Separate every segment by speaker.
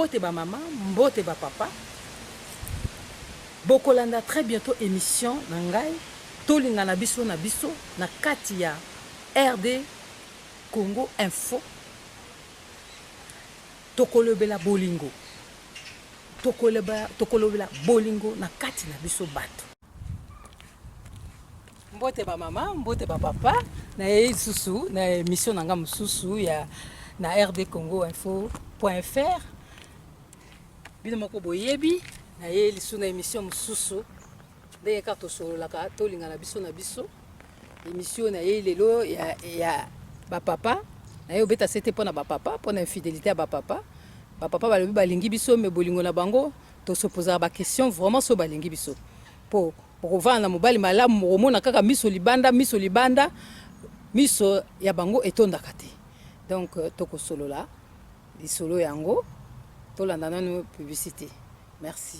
Speaker 1: mbote bamama mbote bapapa bokolanda très bientôt émission na ngai tolinga na biso na biso na kati ya rd congo info Tokolobela bolingo. Tokoleba, tokolobela bolingo na kati na biso bato. Mbote ba mama, mbote ba papa, na ye lisusu na emission na nga mosusu ya na RD Congo Info.fr. Bino moko boyebi na ye lisusu na emission mosusu ndenge kaka tosololaka tolingana biso na biso. Emission na ye lelo ya, ya bapapa na ye obeta sete mpo na bapapa mpo na infidelité ya bapapa bapapa balobi balingi biso me bolingo na bango tosopozaka baquestion vraiment so balingi biso mpo okovanda na mobali malamu mokomona kaka miso libanda miso libanda miso ya bango etondaka te donc euh, tokosolola lisolo yango tolanda nanu publicité merci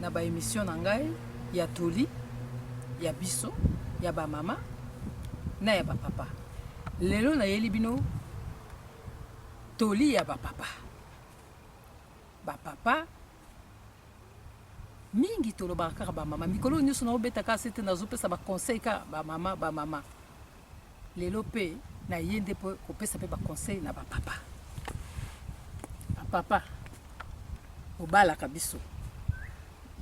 Speaker 1: na ba emission na ngai ya toli ya biso ya ba mama na ya ba papa lelo nayeli bino toli ya ba papa ba papa mingi tolobaka kaka bamama mikolo nyonso naobetaka sete nazopesa baconseil kaka bamama bamama Lelo pe na ye nde po kopesa pe ba conseil na ba papa. Ba papa bobalaka biso,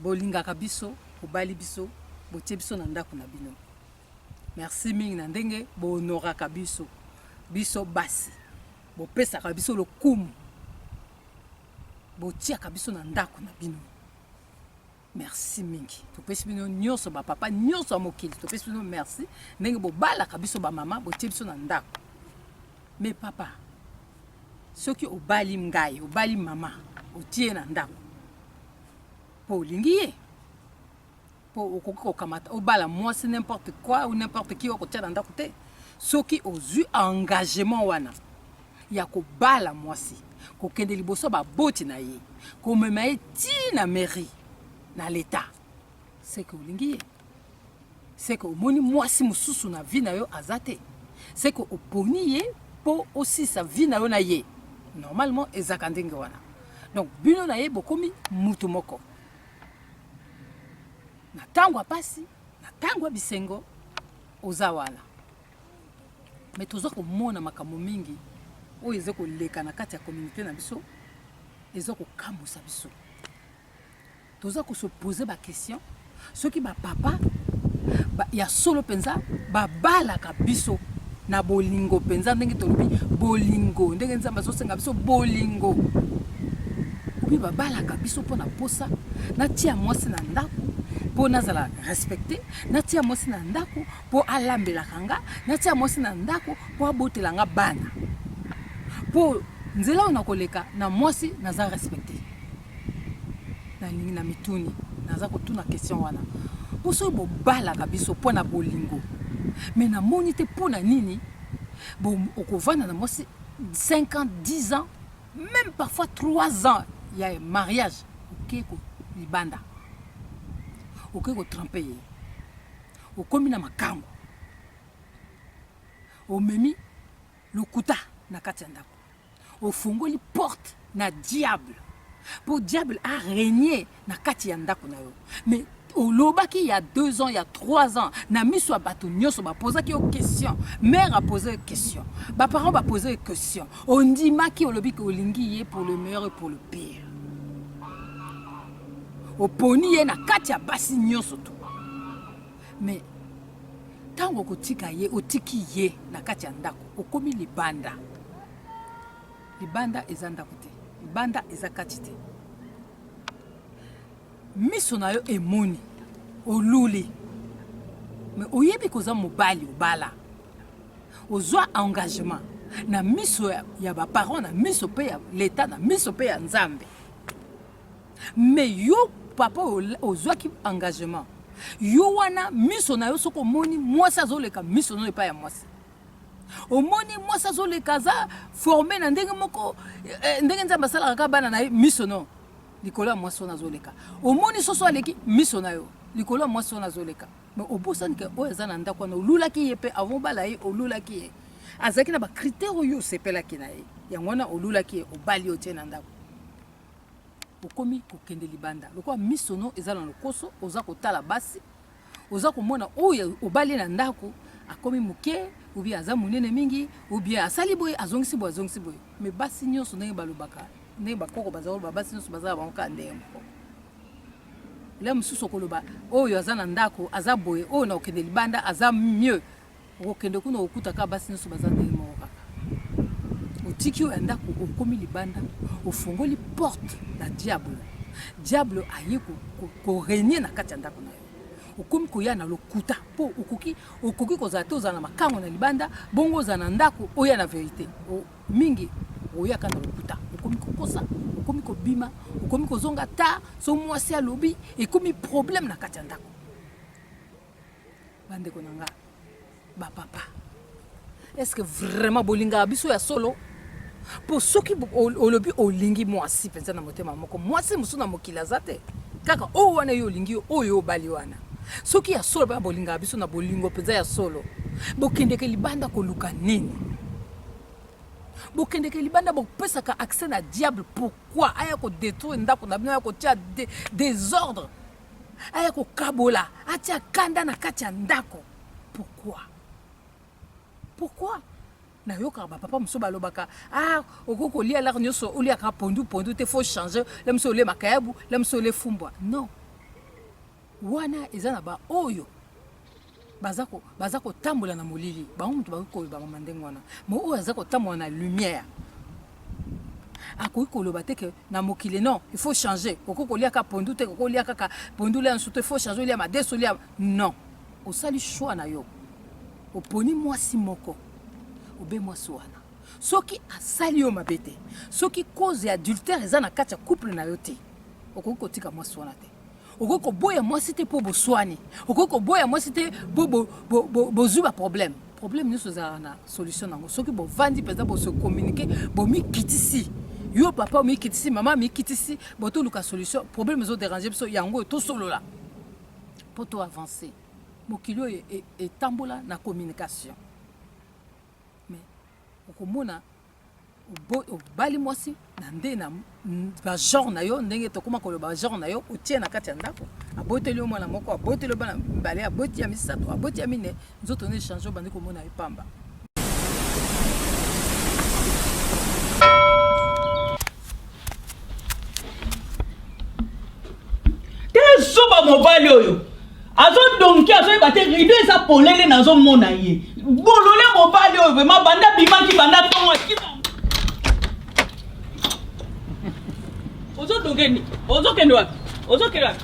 Speaker 1: bolingaka biso, bobali biso, botie biso na ndako na bino. Merci mingi na ndenge bo honoraka biso, biso basi. Bopesaka biso lokumu, botiaka biso na ndako na bino. merci mingi topesi bino nyonso bapapa nyonso ya mokili topesi bino merci ndenge bobalaka biso bamama botie biso na ndako me papa soki obali ngai obali mama otie na ndako mpo olingi ye mpo okoki kokamata obala mwasi n'importe quoi ou n'importe qui okotia na ndako te soki ozwi engagement wana ya kobala mwasi, kokende liboso ya baboti na ye, komema ye tii na mairie, na leta. Seke olingi ye? Seke omoni mwasi mosusu na vie na yo aza te? Seke oponi ye mpo osisa vie na yo na ye? Normalement ezaka ndenge wana. Donc bino na ye bokomi mutu moko. Na tango ya pasi, na tango ya bisengo, oza wana. mais toza komona makambo mingi oyo eza koleka na kati ya communauté na biso eza kokamwisa biso toza kosopose baquestion soki bapapa ba, ya solo mpenza babalaka biso na bolingo mpenza ndenge tolobi bolingo ndenge nzambe azosenga biso bolingo obi babalaka biso mpo na mposa natia mwasi na ndako mpo nazala respecte natia mwasi na ndako mpo alambelaka nga, natia mwasi na ndako mpo abotela nga bana, mpo nzela oyo nakoleka na mwasi naza respecte. Nalingi na mituni, naza kotuna question wana mpo soki bobalaka biso mpo na bolingo, me namoni te mpo na nini okovanda na mwasi 5 ans 10 ans même parfois 3 ans ya mariage okei ko libanda okei kotrempe ye Okomi na makango, omemi lokuta na kati ya ndako, ofungoli porte na diable mpo diable a regne na kati ya ndako na yo mais olobaki ya deux ans ya trois ans na miso ya bato nyonso bapozaki yo question mare apose yo question baparent bapose yo question ondimaki olobi ke olingi ye pour le meilleur et pour le pire oponi ye na kati ya basi nyonso to mais ntango okotika ye otiki ye na kati ya ndako okomi libanda libanda eza ndako te libanda eza kati te miso na yo emoni oluli me oyebi koza mobali obala ozwa engagement na miso ya, ya baparent na miso mpe ya leta na miso mpe ya nzambe Mais yo papa oyo ozwaki engagement yo wana miso na yo soki omoni mwasi azoleka miso na yo epai ya mwasi omoni mwasi azoleka aza forme na ndenge moko eh, eh, ndenge nzambe asalaka kaka bana na ye miso no likolo ya mwasi wana azoleka omoni soso aleki miso na yo likolo ya mwasi wana azoleka me obosani ke oyo aza na ndako wana olulaki ye mpe avant obala ye olulaki ye azalaki na bakritere oyo osepelaki na ye yango wana olulaki ye obali otie na ndako okomi kokende libanda lokola miso no eza na lokoso oza kotala basi oza komona oyo obali na ndako akomi moke obi aza monene mingi obi asali boye azongisi boye azongisi boye me basi nyonso ndenge balobaka ndenge bakoko baza koloba basi nyonso bazala bango kaka ndenge moko la mosusu okoloba oyo aza na ndako aza boye oyo na kokende libanda aza mieux okokende kuna okuta kaka basi nyonso baza ndenge moko kaka otiki oyo ya ndako okomi libanda ofongoli porte na diable diable aye koregne na kati ya ndako na yo okomi koya na lokuta mpo okoki okoki kozala te ozala na makango na libanda bongo ozala na ndako oya na verite mingi oyaka na lokuta okomi kokosa okomi kobima okomi kozonga ta so mwasi alobi ekomi problème na kati ya ndako bandeko na nga bapapa estce vraiment bolingaka biso ya solo mpo soki olobi olingi mwasi mpenza na motema moko mwasi mosusu na mokili aza te kaka oyo wana yo olingi oyo obali wana soki ya solo bana bolingaka biso na bolingo mpenza ya solo bokendeke libanda koluka nini bokendeke libanda bopesaka accès na diable pourquoi aya kodetruire ndako na bino aya kotia desordre de aya kokabola atia kanda na kati ya ndako pourquoi pourquoi nayokaka bapapa mosusu balobaka ah okoki kolia lare nyonso oliaka pondu pondu te faut change la mosusu olie makayabu la mosusu olie fumbwa non wana eza na baoyo baza ko baza kotambola na molili bango moto bakoki koloba mama ndenge wana mo oyo aza kotambola na lumière akoki koloba te ke na mokili non il faut changer okoki kolia kaka pondu te okoki olia kaka pondu olia nsutu il faut changer olia madeso olia non osali choix na yo oponi mwasi moko obe mwasi wana soki asali yo mabe te soki cause ya adultère eza na kati ya couple na yo te okoki kotika mwasi wana te okoki koboya mwasi te mpo boswani okoki koboya mwasi te mpo bozwi baproblème problème nyonso ezalaka na solution nango soki bovandi mpenza bose communiqué bomikitisi yo papa omikitisi mama amikitisi botoluka solution problème ezoderange biso yango oyo tosolola mpo to avance mokili oyo e, e, etambola na communication mais okomona obali mwasi na nde na bagenre na yo ndenge tokoma koloba bagenre na yo otie na kati ya ndako aboteli yo mwana moko aboteli yo bana mibale aboti ya misato aboti ya mine nzoto na echange obandi komona epamba
Speaker 2: tala zoba mobali oyo azodonke azoyeba te rido eza polele nazomona ye bolole mobali oyo vrema banda bimaki banda ntongo akima ozodonke nini ozokende wapi ozokende wapi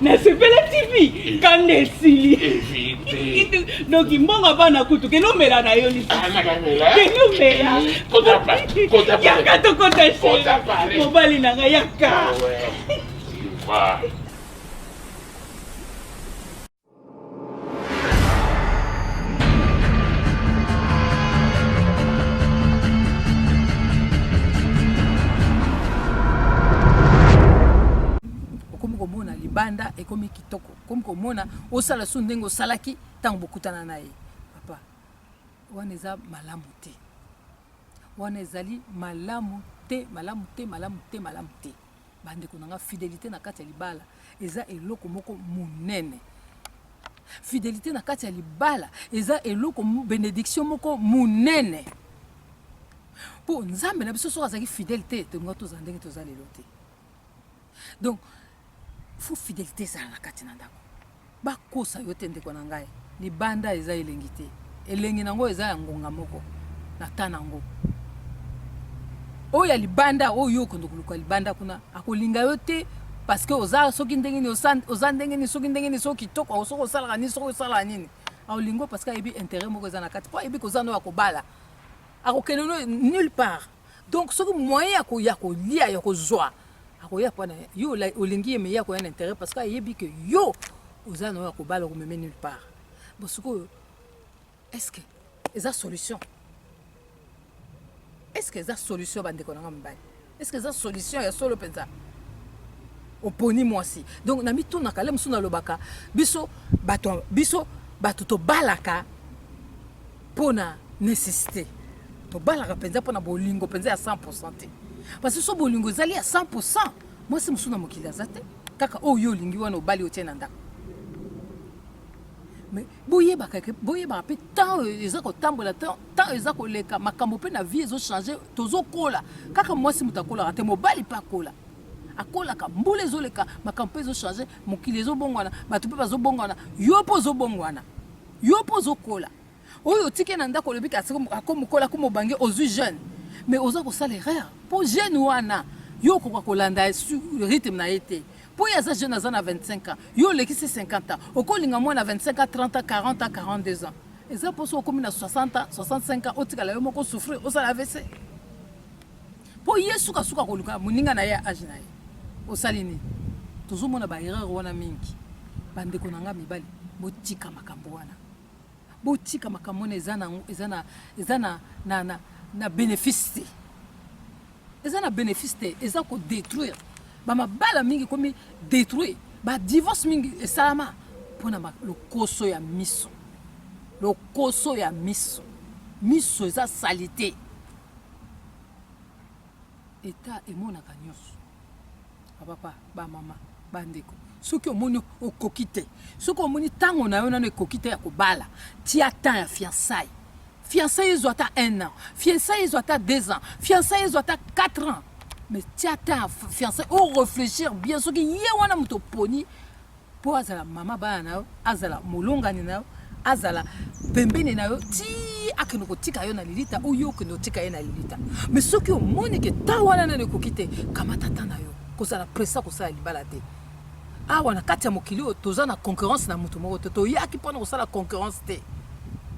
Speaker 2: nasepela tv kanda esili
Speaker 3: donc mbongo
Speaker 2: bana kutu kende omela na yo lisuskende
Speaker 3: omela yaka tokota
Speaker 2: mobali
Speaker 3: na ngai yaka
Speaker 1: libanda ekomi kitoko komi komona osala su ndenge osalaki ntango bokutana na ye papa wana eza malamu te wana ezali malamu te malamu te malamu te malamu te bandeko na nga fidelite na kati ya libala eza eloko moko monene fidelite na kati ya libala eza eloko benediction moko monene mpo nzambe na biso soki azalaki fidele te tolinga tozala ndenge toza lelo te donc fo fidelite ezala na kati na ndako Ba kosa yo te ndeko na ngai, libanda eza elengi te, elengi na ngo eza ya ngonga moko na temps na ngo. Oyo ya libanda oyo yo okondo koluka libanda kuna akolinga yo te parce que oza soki ndenge ni oza ndenge ni soki ndenge ni soki kitoko soki osalaka nini soki osalaka nini aolingo parce que ayebi intérêt moko eza na kati mpo ayebi kozana oyo akobala akokende no nulle part donc soki moyen ya koya kolia ya kozwa akoya mpo na yo olingi ye me ye akoya na intérêt parce que ayebi ke yo oza na oyo ya kobala okomeme nulle part bo sikoyo est-ce que eza solution est-ce que eza solution bandeko na nga mibali est-ce que eza solution ya solo mpenza oponi mwasi donc na mitunaka le mosusu nalobaka biso bato biso bato tobalaka pona necessite tobalaka mpenza mpo na bolingo mpenza ya 100 te parce so bolingo ezali ya 100 mwasi mosusu na mokili aza te kaka oyo yo olingi wana obali otie na ndako mais boyebaka boyebaka mpe temps eza kotambola temps eza koleka makambo mpe na vie ezochange tozokola kaka mwasi moto akolaka te mobali mpe akola akolaka mbula ezoleka makambo mpe ezochange mokili ezobongwana bato mpe bazobongwana yo mpe ozobongwana Yo po ozo kola. Oyo otike na ndako olobi kasi ako mokola ko mobange ozui jeune. Mais oza ko sala erreur. Po jeune wana yo okoka kolanda rythme na ye te. Po ye aza jeune aza na 25 ans. Yo olekisi 50 ans. Okolinga mwana 25 ans, 30 ans, 40 ans, 42 ans. Eza poso okomi na 60 ans, 65 ans otikala yo moko souffrir osala AVC. Po ye suka suka koluka moninga na ye ya age na ye. Osali nini? Tozomona ba erreur wana mingi. Ba ndeko na nga mibali, botika makambo wana. Botika makambo wana eza na eza na eza na na na, na benefice te. Eza na benefice te, eza ko detruire. Ba mabala mingi komi detruire. Ba divorce mingi esalama pona lokoso ya miso. Lokoso ya miso. Miso eza salite. Etat emonaka nionso. Ba papa, ba mama, ba ndeko. Soki omoni okoki te, soki omoni tango na yo nano ekoki te ya kobala, tia temps ya fiançailles. Fiançailles ezwa ata un an, fiançailles ezwa ata deux ans, fiançailles ezwa ata quatre ans. Mais tia temps ya fiançailles, o reflechir bien soki ye wana moto oponi mpo azala mama bana na yo azala molongani na yo azala pembeni na yo ti akende kotika yo na lilita ou yo okende otika ye na lilita me soki omoni ke ta wana nano ekoki te kamata ta na yo kozala presa kosala libala te awa na kati ya mokili oyo toza na concurrence na moto moko te toyaki mpona kosala concurrence te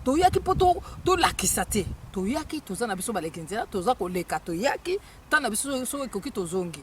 Speaker 1: toyaki mpo tolakisa te toyaki toza na biso baleki nzela toza koleka toyaki ntango na biso soki ekoki tozongi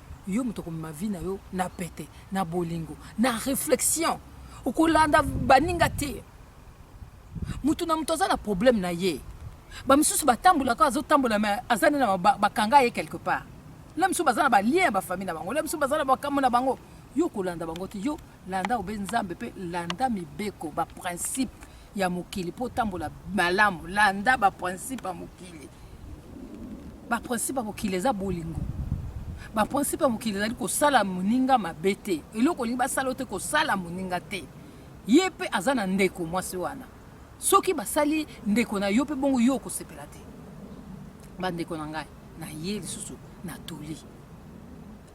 Speaker 1: yo moto okomema vie na yo na pete na bolingo na réflexion okolanda baninga te moto na moto aza na problème na ye bamisusu batambolaka azotambola me aza nde na bakanga ye quelque part la misusu baza na balien ya bafamille na bango la misusu baza na bakambo na bango yo okolanda bango te yo Landa obe Nzambe pe landa mibeko ba principe ya mokili mpo otambola malamu. Landa ba principe ya mokili. Ba principe ya mokili eza bolingo. Ba principe ya mokili ezali kosala moninga mabe te. Eloko olingi basala yo te kosala moninga te. Ye pe aza na ndeko mwasi wana. Soki basali ndeko na yo pe bongo yo okosepela te. Ba ndeko na ngai, na ye lisusu na toli.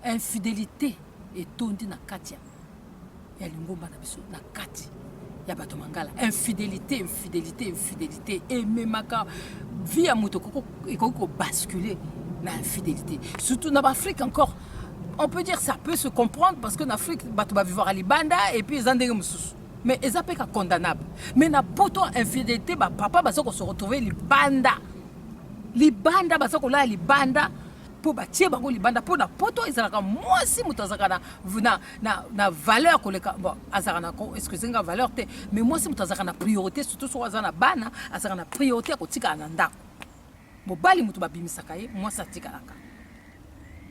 Speaker 1: Infidelite etondi na kati ya ya lingomba na biso na kati ya bato mangala infidelité infidelité infidelité ememaka vie ya moto ekoki kobascule na infidelité surtout na baafrike encore on peut dire ça peut se comprendre parce que na afrique bato bavivaka libanda et puis eza ndenge mosusu mais eza mpe ka condamnable mais na poto infidelité bapapa baza kose retrouve libanda libanda baza kolala libanda mpo batie bango libanda mpo na poto ezalaka mwasi moto azalaka na, na, na, na valeur koleka bon, azalaka na excuse nga valeur te mais mwasi moto azalaka na priorité surtout soki aza na bana azalaka na priorité ya kotikala na ndako mobali moto babimisaka ye mwasi atikalaka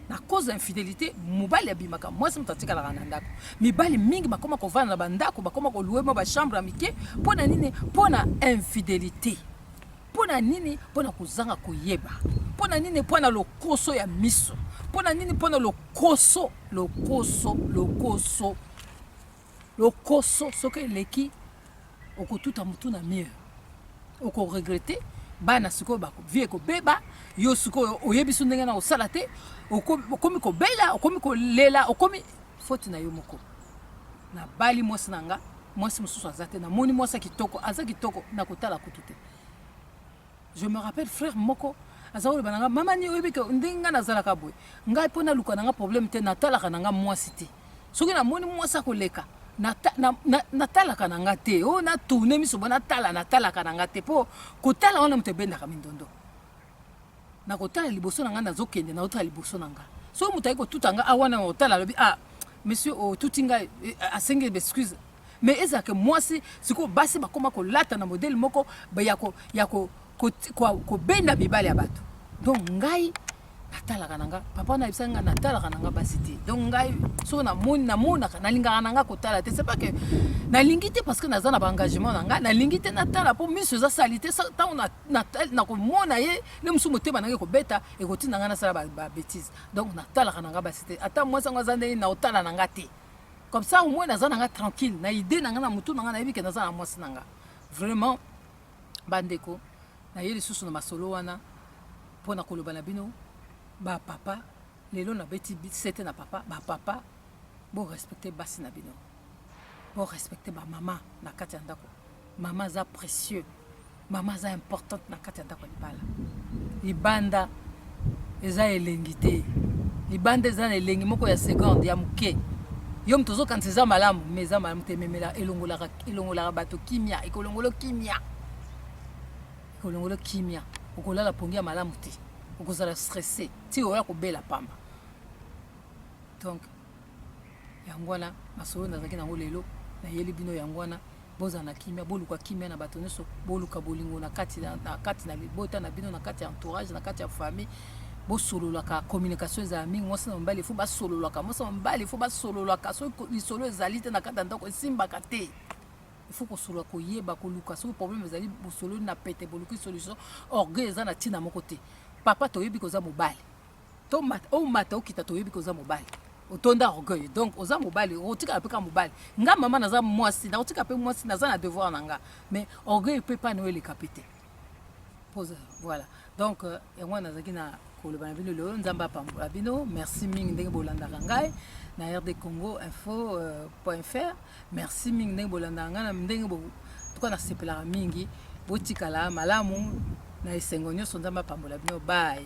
Speaker 1: na cause ya infidélité mobali abimaka mwasi moto atikalaka na ndako mibali mingi bakoma kovanda na bandako bakoma kolue mwa bachambre ya mike mpo na nini mpo na infidélité Mpo na nini? Mpo na kozanga koyeba. Mpo na nini? Mpo na lokoso ya miso. Mpo na nini? Mpo na lokoso, lokoso, lokoso, lokoso. Soki eleki, okotuta motu na mire, okoregrete bana sikoyo vie ekobeba yo sikoyo oyebi so ndenge na kosala te okomi kobela okomi kolela okomi foti na yo moko Na bali mwasi na nga, mwasi mosusu aza te. Namoni mwasi kitoko, aza kitoko na kotala kutu te. Je me rappelle frère moko aza koloba na nga mama ni oyebi ke ndenge nga nazalaka boye ngai mpo naluka na nga problème te natalaka na nga mwasi te soki namoni mwasi akoleka natalaka na nga te o oh, natourne miso bo natala natalaka na nga te mpo kotala wana moto ebendaka mindondo nakotala liboso na ngai nazokende naotala liboso na ngai soki moto ayei kotuta ngai awana ah, otala alobi ah monsieur otuti ngai eh, asengi excuse mais ezalaka mwasi sikoyo basi bakoma kolata na modele moko ya kobenda mibale ya bato donc ngai natalaka na nga papa na yebisaki nga natalaka na nga basi te donc ngai soki namoni namonaka nalingaka na nga kotala te c'est pas que nalingi te parce que naza na baengagement na nga nalingi te natala mpo miso eza sali te ntango nakomona ye nde mosusu motema nanga ekobeta ekotinda ngai nasala babetise donc natalaka nanga basi te ata mwasi yango aza ndenge naotala nanga te comme ça omoi naza nanga tranquille na idée nanga na motu nanga nayebi ke naza na mwasi nanga vraiment bandeko naye lisusu na masolo wana mpo na koloba na bino bapapa lelo nabeti sete na papa bapapa borespecte basi na bino borespecte bamama na kati ya ndako mama aza précieux mama aza importante na kati ya ndako ya libala libanda eza elengi te libanda eza na elengi moko ya seconde ya moke yo moto ozokanisa eza malamu me eza malamu te ememela elongolaka elongolaka bato kimia ekolongolo kimia ekolongolo kimia okolala pongi ya malamu te okozala stresse ti oya kobela pamba donc Yango wana masolo nazalaki nango lelo nayeli bino yango wana bozala na kimia boluka kimia na bato nyonso boluka bolingo na kati na, na kati na libota na bino na kati ya entourage na kati ya famille bosololaka communication ezala mingi mwasi na mobali efo basololaka mwasi na mobali efo basololaka soki lisolo ezali te na kati ya ndako esimbaka te ifo kosolola koyeba koluka soki problème ezali bosololi na pete boluki solution orgueil eza na ntina moko te papa toyebi koza mobali to mata o mata okita toyebi ko oza mobali otonda orgueil donc oza mobali okotikala mpe kaka mobali nga mama naza mwasi nakotika mpe mwasi naza na devoir na nga mais orgueil mpe pane oyo eleka mpe te pose voilà donc euh, yango wana nazalaki na koloba na bino lelo nzambe apambola bino merci mingi ndenge bolandaka ngai na rd congo info euh, point fr merci mingi ndenge bolandaka ngai na ndenge tuka nasepelaka mingi botikala malamu na esengo nyonso nzambe apambola bino baye